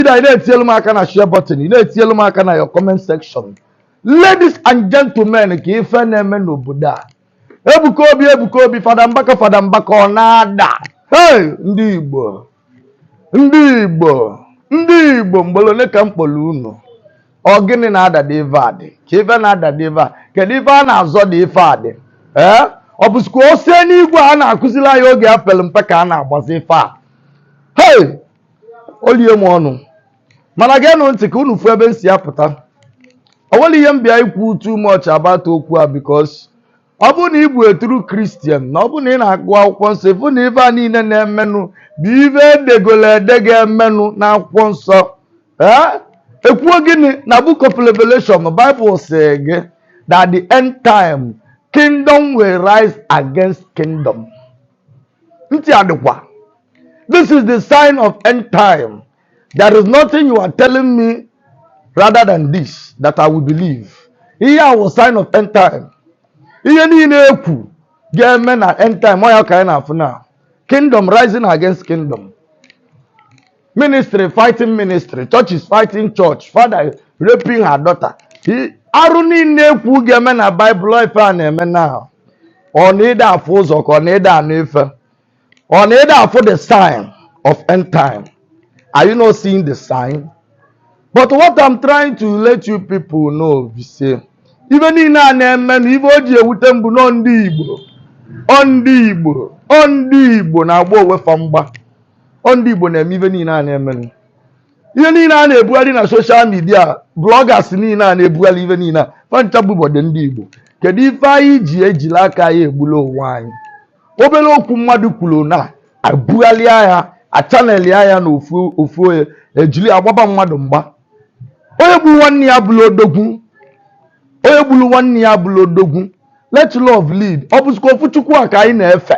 Chida, ị na-etinyelu m aka na share button, ị na-etinyelu m aka na your comment section. Ladies and gentlemen, ka ife na-eme n'obodo a. Ebuka Obi, Ebuka Obi, Fada Mbaka, Fada Mbaka, ọ na-ada. Hey, ndị Igbo, ndị Igbo, ndị Igbo, ugboro ole ka m kpọrọ unu? Ọ gịnị na-ada dị ife adị? Ka ife na-ada dị ife a? Kedu ife a na-azọ dị ife adị? Ee, ọ bụzikwa ọsọ enigwe a na-akụziri anyị oge e pere mpe ka a na-agbazi ife a. Hey! o lie m ọnụ mana geenụ ntị ka unu fụ ebe m si apụta o nwerọ ihe m bịa ikwu too much about okwu a because ọ bụrụ na ị bụ a true christian na ọ bụrụ na ị na-agụ akwụkwọ nsọ ị fụ na ife a niile na-emenụ bụ ife e degolu ede ga-emenụ n'akwụkwọ nsọ ee e kwuo gịnị na book of revelation bible sị gị that the end time kingdom will rise against kingdom ntị adịkwa this is the sign of end time there is nothing you are telling me rather than this that I will believe ihe a wụ sign of end time ihe niile e kwu ga-eme na end time ọ ya ka anyị na-afụ na kingdom rising against kingdom ministry fighting ministry church is fighting church father raping her daughter arụ niile e kwu ga-eme na baịbụl ife a na-eme na ọ na ị da-afụ ụzọ ka ọ na ị da-anụ ife ọ na ị da-afụ the sign of end time are you not seeing the sign but what i'm trying to let you people know be say ife niile a na-eme na ife o ji ewute m bụ na ọ ndị igbo ọ ndị igbo ọ ndị igbo na-agba onwe fa mgba ọ ndị Igbo na-eme ife niile a na-emenụ ihe niile a na-ebugharị na social media bloggers niile a na-ebugharị ife niile a fa ncha bụbọdụ ndị Igbo kedu ife anyị ji ejila aka anyị egbula onwe anyị obere okwu mmadụ kwuru na e bugharịa ya achanelia ya na ofu ofu onye e jiri agbaba mmadụ mgba onye gburu nwanne ya bụrụ odogwu onye gburu nwanne ya bụrụ odogwu let love lead ọ bụzikwa ofu chukwu a ka anyị na-efe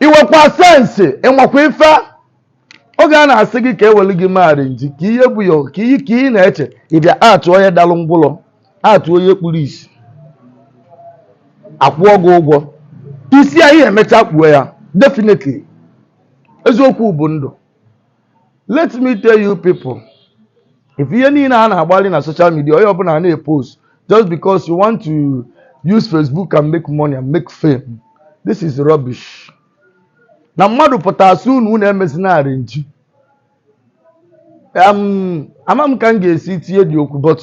i nwekwa sense ị makwa ife oge a na-asị gị ka e welu gị mee arrangee ka ihe bụ ya ka ihe ka ị na-eche ị bịa act onye dalụ ngwụlọ act onye kpuru isi a kwụọ gị ụgwọ isi a ya-emecha kpuo ya definitely eziokwu bụ ndụ let me tell you people if ihe niile a na-agbalị na social media onye ọbụla na-epost just because you want to use Facebook and make money and make fame this is rubbish na mmadụ pụta a sị unu unu emezina arrangee um, ama m ka m ga-esi tinye dị okwu but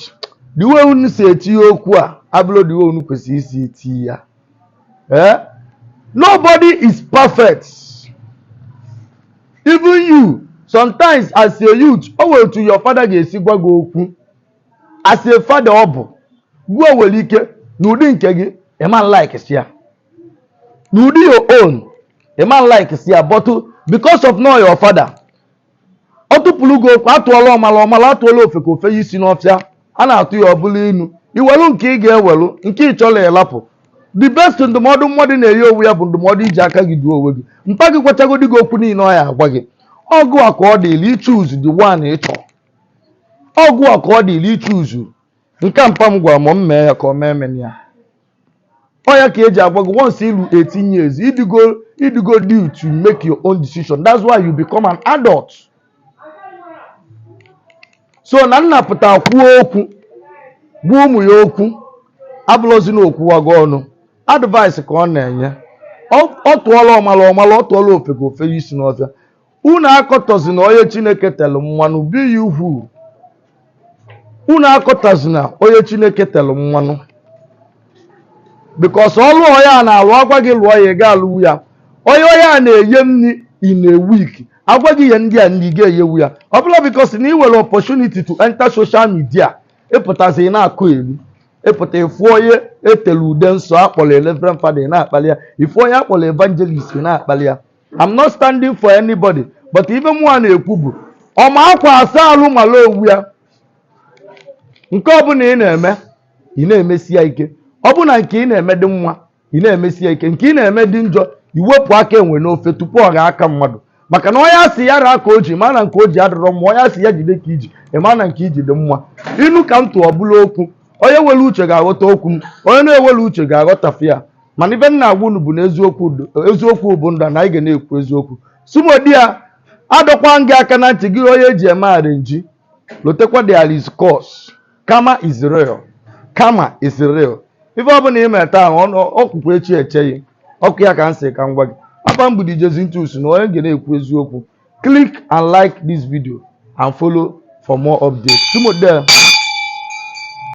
the way unu si etinye okwu a abụrọ the way unu kwesịrị isi tinye ya Eh? Nobody is perfect. Even you, sometimes as a youth, o nwere otu your father ga-esi gwa gị okwu. As a father ọ bụ, gịwa nwere ike n'ụdị nke gị, ị ma like ya. N'ụdị your own, ị ma like ya, but because of na ọ your father, ọ tụpụrụ gị okwu atụọla ọmala ọmala atụọla ofeke o feye isi n'ọfịa a na-atụ ya ọ bụlụ inu i welu nke ị ga-ewelu nke ị chọrọ ị lapụ the best ndụmọdụ mmadụ na-eye onwe ya bụ ndụmọdụ iji aka gị duo onwe gị mpa gị gwachagodi gị okwu niile ọ ya-agwa gị ọ gịwa ka ọ dịrị ichoose the one ị chọrọ ọ gịwa ka ọ dịrị ichoose nke a mpa m gwara m m mee ya ka ọ m emena ya ọ ya ka eji agwa gị once i lu 18 years ị dịgo due to make your own decision that's why you become an adult so na nna pụta kwuo okwu gwa ụmụ ya okwu abụlọzi na o kwuwago ọnụ advice ka ọ na-enye ọ ọ tụọla ọmala ọmala ọ tụọla ofeke o feye isi n'ọfịa unu akọtọzina onye chineke telụ mmanụ be you who unu akọtọzina onye chineke telụ mmanụ because ọlụ onye a na-alụ a gwa gị lụọ ya ị ga-alụwu ya onye onye a na-eye nri in a week a gwa gị ye ndị a nri ị ga-eyewu ya ọ bụlọ because na ị nwere opportunity to enter social media ị pụtazi ị na-akọyeli ị pụta ị fụ onye e telu ude nsọ akpọrọ reverend father ị na-akpali ya ị fụ onye akpọrọ evangelist ị na-akpali ya I'm not standing for anybody but ife mụnwa na-ekwu bụ ọma akwa asa alụ mala onwe ya nke ọbụla ị na-eme ị na-emesi ya ike ọ bụ na nke ị na-eme dị mma ị na-emesi ya ike nke ị na-eme dị njọ i wepụ aka enwe n'ofe tupu ọ ghọọ aka mmadụ maka na onye a sị ya raa ka o ji ma na nke o ji adịrọ mma onye a sị ya jide ka i ji ị ma na nke i ji dị mma inu ka m tụ ọ bụrọ okwu onye nwere uche ga-aghọta okwu m onye na-enwerọ uche ga-aghọtafe ya mana ife m na-agwa unu bụ na eziokwu dị- eziokwu bụ ndụ na anyị ga na-ekwu eziokwu sumodi ya adọkwa m gị aka na ntị gị onye eji eme arrangee lotekwa there is curse karma is real karma is real ife ọbụla ị mere taa ọ- ọ kwụkwa echi eche gị ọ kwa ya ka m sị ka m gwa gị afa m bụ DJ Zintus na onye ga na-ekwu eziokwu click and like this video and follow for more updates sumodi ya